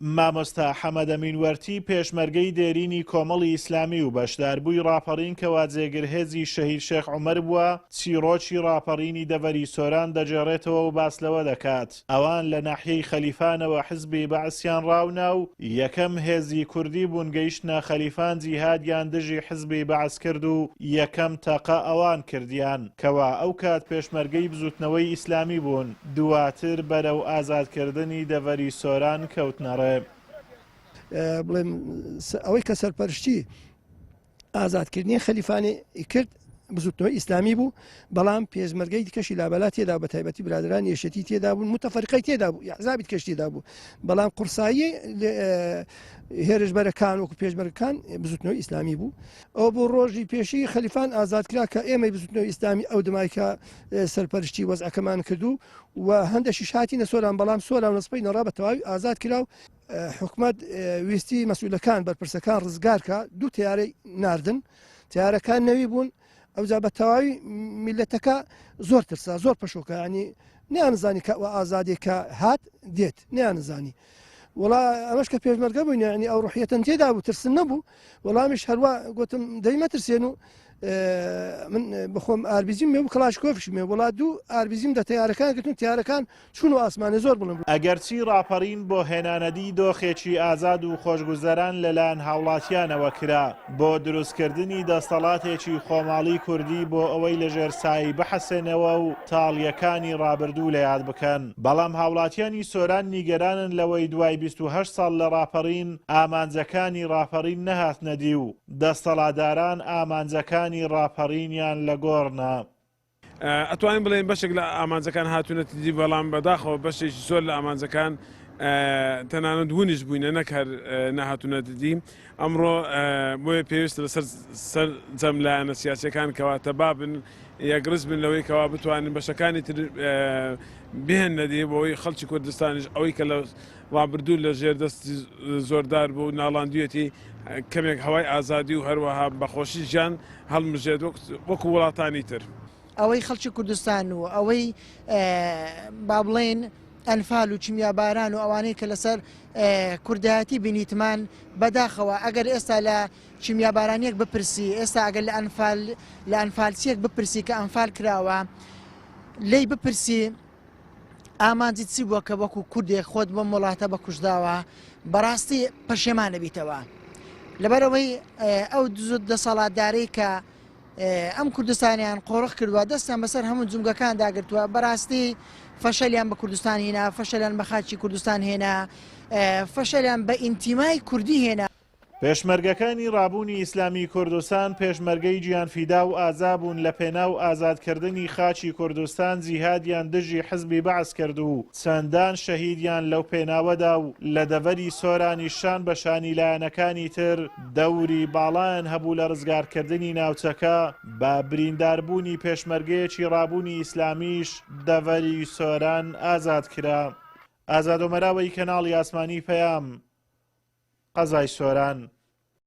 مامۆستا حەمەدەمین وەرتی پێشمەرگەی دێرینی کۆمەڵی ئیسلامی و بەشداربووی ڕاپەڕین کەوا جێگر هێزی شەهید شێخ عومەر بووە، چیڕۆکی ڕاپەڕینی دەڤەری سۆران دەگێڕێتەوە و باس لەوە دەکات، ئەوان لە ناحیەی خەلیفانەوە حزبی بەعسیان ڕاونا و یەکەم هێزی کوردی بوون گەیشتنە خەلیفان جیهادیان دژی حزبی بەعس کرد و یەکەم تەقە ئەوان کردیان کەوا ئەو کات پێشمەرگەی بزوتنەوەی ئیسلامی بوون. دواتر بەرەو ئازادکردنی دەڤەری سۆران کەوتنە ڕێ. بڵێن ئەوەی کە سەرپەرشتی ئازادکردنی خەلیفانەی کرد بزوتنەوەی ئیسلامی بوو بەڵام پێشمەرگەی دیکەشی لابەلا تێدا بە تایبەتی برادران یەشێتی تێدا بوون متفەرقەی تێدا بوو یحزابی کەشتیدا بوو بەڵام قورسایی هێرشبەرەکان وەکو پێشمەرگەکان بزوتنەوەی ئیسلامی بوو ئەوە بوو ڕۆژی پێشی خەلیفان ئازاد کرا کە ئێمەی بزوتنەوە ئیسلامی ئەو دمای کە سەرپەرشتی وەزعەکەمان کردو و هەندێکی شاتی نە سۆران بەڵام سۆران نسپی نەڕا بە تەواوی ئازاد کرا و حکومت ویستی مەسوولەکان بەرپرسەکان ڕزگارکە دوو تیارەی ناردن تیارەکان نەوی بوون ئەوجا بە تەواوی میلەتەکە زۆر ترسا زۆر پەشۆکانی نیانزانی کە ئازادی کە هات دێت نیانزانی وڵا ئەمەش کە پێشمەرگە بووین ینی ئەو ڕحیەتەن تێدا بوو ترسن نەبوو وەڵامیش هەروا گوتم دەی مەترسێن و من بخۆم ئاربیزیم مێ و کلاش کۆفش مێ وڵات دوو ئاربیزیم دە تیارەکان گرتن تیارەکان چون و ئاسمانە زۆر بڵم ئەگەرچی ڕاپەڕین بۆ هێنانەدی دۆخێکی ئازاد و خۆشگوزەران لەلایەن هاوڵاتیانەوە کرا بۆ دروستکردنی دەستەڵاتێکی خۆماڵی کوردی بۆ ئەوەی لەژێر سایی بحەسێنەوە و تاڵیەکانی ڕابردوو لە یاد بکەن. بەڵام هاوڵاتیانی سۆران نیگەرانن لەوەی دوای بیست و هەشت ساڵ لە ڕاپەڕین ئامانجەکانی ڕاپەڕین نەهاتنە دی و دەستەڵاداران ئامانجەکانی ڕاپەڕینیان لە گۆڕنا. ئەتوانین بڵێین بەشێک لە ئامانجەکان هاتوونەتە دی بەڵام بەداخەوە بەشێکی زۆر لە ئامانجەکان تەنانەت ونیش بووینە نەک هەر نەهاتوونەتە دی. ئەمڕۆ بۆیە پێویستە لەسەر سەرجەم لایەنە سیاسیەکان کەوا تەبابن یەکڕز بن لەوەی کەوا بتوانین بەشەکانی تر بێن نەدی بۆی خەڵکی کوردستانیش ئەوەی کە لە ڕابردوو لە ژێر دەست زۆردار بوو ناڵاندویەتی کەمێک هەوای ئازادی و هەروەها بەخۆشی ژیان هەڵمژێت وەکو وڵاتانی تر. ئەوەی خەڵکی کوردستان و ئەوەی با بڵێن ئەنفال و کیمیاباران و ئەوانەی کە لەسەر کوردایەتی بینیتمان بەداخەوە ئەگەر ئێستا لە کیمیابارانیەک بپرسی ئێستا ئەگەر لە ئەنفال لە ئەنفالسیەک بپرسی کە ئەنفال کراوە لی بپرسی ئامانجی چی بووە کە وەکو کوردێک خۆت بۆ وڵاتە بە کوشداوە بەڕاستی پەشێمانەبییتەوە لەبەرەوەی ئەو دزت دەسەڵاتدارەی کە ئەم کوردستانیان قۆرخ کردوە دەستیان بەسەر هەموو جومگەکان داگرتووە بەراستی فەشەلیان بە کوردستان هینا فەشەلیان بە خاچی کوردستان هێنا فەشەلیان بە ئینتیمای کوردی هێنا. پێشمەرگەکانی ڕابوونی ئیسلامی کوردستان پێشمەرگەی گیانفیدا و ئازا بوون لە پێناو ئازاد کردنی خاکی کوردستان جیهادیان دژی حزبی بەعس کرد و چەندان شەهیدیان لەو پێناوەدا و لە دەڤەری سۆرانیش شان بە شانی لایەنەکانی تر دەوری باڵایان هەبوو لە ڕزگارکردنی ناوچەکە، بە برینداربوونی پێشمەرگەیەکی ڕابوونی ئیسلامیش دەڤەری سۆران ئازاد کرا. ئازادۆمەراوەی کەناڵی ئاسمانی پەیام، قەزای سۆران.